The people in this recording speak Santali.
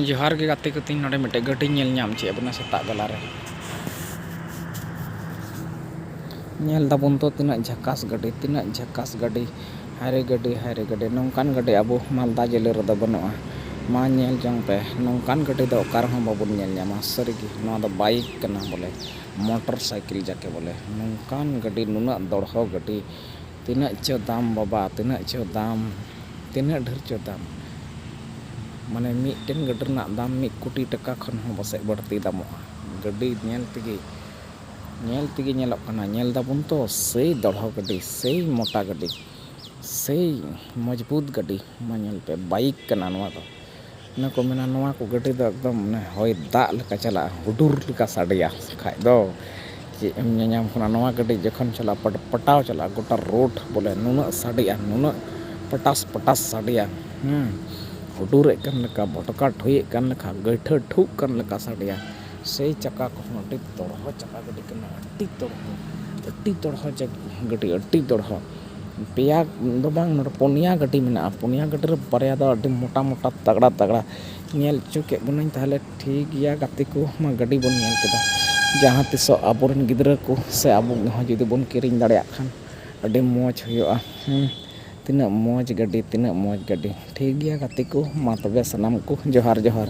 ᱡᱚᱦᱟᱨ ᱜᱮ ᱜᱟᱛᱮ ᱠᱚ ᱛᱤᱧ ᱱᱚᱰᱮ ᱢᱤᱫᱴᱮᱡ ᱜᱟᱹᱰᱤᱧ ᱧᱮᱞ ᱧᱟᱢ ᱪᱮᱫ ᱵᱚᱱᱟ ᱥᱮᱛᱟᱜ ᱵᱮᱞᱟ ᱨᱮ ᱧᱮᱞ ᱫᱟᱵᱚᱱ ᱛᱚ ᱛᱤᱱᱟᱹᱜ ᱡᱷᱟᱠᱟᱥ ᱜᱟᱹᱰᱤ ᱛᱤᱱᱟᱹᱜ ᱡᱷᱟᱠᱟᱥ ᱜᱟᱹᱰᱤ ᱦᱟᱭᱨᱮ ᱜᱟᱹᱰᱤ ᱦᱟᱭᱨᱮ ᱜᱟᱹᱰᱤ ᱱᱚᱝᱠᱟᱱ ᱜᱟᱹᱰᱤ ᱟᱵᱚ ᱢᱟᱞᱫᱟ ᱡᱮᱞᱟᱹ ᱨᱮᱫᱚ ᱵᱟᱹᱱᱩᱜᱼᱟ ᱢᱟ ᱧᱮᱞ ᱡᱚᱝ ᱯᱮ ᱱᱚᱝᱠᱟᱱ ᱜᱟᱹᱰᱤ ᱫᱚ ᱚᱠᱟ ᱨᱮᱦᱚᱸ ᱵᱟᱵᱚᱱ ᱧᱮᱞ ᱧᱟᱢᱟ ᱥᱟᱹᱨᱤᱜᱮ ᱱᱚᱣᱟ ᱫᱚ ᱵᱟᱭᱤᱠ ᱠᱟᱱᱟ ᱵᱚᱞᱮ ᱢᱚᱴᱚᱨ ᱥᱟᱭᱠᱮᱞ ᱡᱟᱠᱮ ᱵᱚᱞᱮ ᱱᱚᱝᱠᱟᱱ ᱜᱟᱹᱰᱤ ᱱᱩᱱᱟᱹᱜ ᱫᱚᱲᱦᱚ ᱜᱟᱹᱰᱤ ᱛᱤᱱᱟᱹᱜ ᱪᱚ ᱫᱟᱢ ᱵᱟᱵᱟ ᱛᱤᱱᱟᱹᱜ ᱪᱚ ᱫᱟᱢ ᱛᱤᱱᱟᱹᱜ ᱰᱷᱮᱨ ᱪᱚ ᱫᱟᱢ ᱢᱟᱱᱮ ᱢᱤᱫᱴᱮᱱ ᱜᱟᱹᱰᱤ ᱨᱮᱱᱟᱜ ᱫᱟᱢ ᱢᱤᱫ ᱠᱳᱴᱤ ᱴᱟᱠᱟ ᱠᱷᱚᱱ ᱦᱚᱸ ᱯᱟᱥᱮᱡ ᱵᱟᱹᱲᱛᱤ ᱫᱟᱢᱚᱜᱼᱟ ᱜᱟᱹᱰᱤ ᱧᱮᱞ ᱛᱮᱜᱮ ᱧᱮᱞ ᱛᱮᱜᱮ ᱧᱮᱞᱚᱜ ᱠᱟᱱᱟ ᱧᱮᱞ ᱫᱟᱵᱚᱱ ᱛᱚ ᱥᱮᱭ ᱫᱚᱲᱦᱚ ᱜᱟᱹᱰᱤ ᱥᱮᱭ ᱢᱚᱴᱟ ᱜᱟᱹᱰᱤ ᱥᱮᱭ ᱢᱚᱡᱽᱵᱩᱛ ᱜᱟᱹᱰᱤ ᱢᱟ ᱧᱮᱞ ᱯᱮ ᱵᱟᱭᱤᱠ ᱠᱟᱱᱟ ᱱᱚᱣᱟ ᱫᱚ ᱚᱱᱮ ᱠᱚ ᱢᱮᱱᱟ ᱱᱚᱣᱟ ᱠᱚ ᱜᱟᱹᱰᱤ ᱫᱚ ᱮᱠᱫᱚᱢ ᱚᱱᱮ ᱦᱚᱭ ᱫᱟᱜ ᱞᱮᱠᱟ ᱪᱟᱞᱟᱜᱼᱟ ᱦᱩᱰᱩᱨ ᱞᱮᱠᱟ ᱥᱟᱰᱮᱭᱟ ᱵᱟᱠᱷᱟᱡ ᱫᱚ ᱪᱮᱫ ᱮᱢ ᱧᱮᱧᱟᱢ ᱠᱟᱱᱟ ᱱᱚᱣᱟ ᱜᱟᱹᱰᱤ ᱡᱚᱠᱷᱚᱱ ᱪᱟᱞᱟᱜᱼᱟ ᱯᱚᱴ ᱯᱚᱴᱟᱣ ᱪᱟᱞᱟᱜᱼᱟ ᱜᱚᱴᱟ ᱨᱳᱰ ᱵᱚᱞᱮ ᱱᱩᱱᱟᱹᱜ ᱥᱟᱰᱮᱭᱟ ᱱᱩᱱᱟᱹᱜ ᱯᱚᱴᱟᱥ ᱯᱚᱴᱟᱥ ᱥᱟᱰᱮᱭᱟ ᱦᱩᱰᱩᱨᱮᱫ ᱠᱟᱱ ᱞᱮᱠᱟ ᱵᱷᱚᱴᱠᱟ ᱴᱷᱩᱭᱮᱫ ᱠᱟᱱ ᱞᱮᱠᱟ ᱜᱟᱹᱭᱴᱷᱟᱹ ᱴᱷᱩᱜ ᱠᱟᱱ ᱞᱮᱠᱟ ᱥᱟᱰᱮᱭᱟ ᱥᱮᱭ ᱪᱟᱠᱟ ᱠᱚᱦᱚᱸ ᱟᱹᱰᱤ ᱫᱚᱲᱦᱚ ᱪᱟᱠᱟ ᱜᱟᱹᱰᱤ ᱠᱟᱱᱟ ᱟᱹᱰᱤ ᱫᱚᱲᱦᱚ ᱟᱹᱰᱤ ᱫᱚᱲᱦᱚ ᱜᱟᱹᱰᱤ ᱟᱹᱰᱤ ᱫᱚᱲᱦᱚ ᱯᱮᱭᱟ ᱫᱚ ᱵᱟᱝ ᱱᱚᱰᱮ ᱯᱩᱱᱭᱟ ᱜᱟᱹᱰᱤ ᱢᱮᱱᱟᱜᱼᱟ ᱯᱩᱱᱭᱟ ᱜᱟᱹᱰᱤ ᱨᱮ ᱵᱟᱨᱭᱟ ᱫᱚ ᱟᱹᱰᱤ ᱢᱚᱴᱟ ᱢᱚᱴᱟ ᱛᱟᱜᱽᱲᱟ ᱛᱟᱜᱽᱲᱟ ᱧᱮᱞ ᱦᱚᱪᱚ ᱠᱮᱜ ᱵᱚᱱᱟᱧ ᱛᱟᱦᱚᱞᱮ ᱴᱷᱤᱠ ᱜᱮᱭᱟ ᱜᱟᱛᱮ ᱠᱚ ᱢᱟ ᱜᱟᱹᱰᱤ ᱵᱚᱱ ᱧᱮᱞ ᱠᱮᱫᱟ ᱡᱟᱦᱟᱸ ᱛᱤᱥᱚᱜ ᱟᱵᱚ ᱨᱮᱱ ᱜᱤᱫᱽᱨᱟᱹ ᱠᱚ ᱥᱮ ᱟᱵᱚ ᱦᱚᱸ ᱡᱩᱫᱤ ᱵᱚᱱ ᱠᱤᱨᱤᱧ ᱫᱟᱲᱮᱭᱟᱜ ᱠᱷᱟᱱ ᱟᱹᱰᱤ ᱢᱚᱡᱽ ᱦᱩᱭᱩᱜᱼᱟ ᱦᱮᱸ ᱛᱤᱱᱟᱹᱜ ᱢᱚᱡᱽ ᱜᱟᱹᱰᱤ ᱛᱤᱱᱟᱹᱜ ᱢᱚᱡᱽ ᱜᱟᱹᱰᱤ ᱴᱷᱤᱠ ᱜᱮᱭᱟ ᱜᱟᱛᱮ ᱠᱚ ᱢᱟ ᱛᱚᱵᱮ ᱥᱟᱱᱟᱢ ᱠᱚ ᱡᱚᱦᱟᱨ ᱡᱚᱦᱟᱨ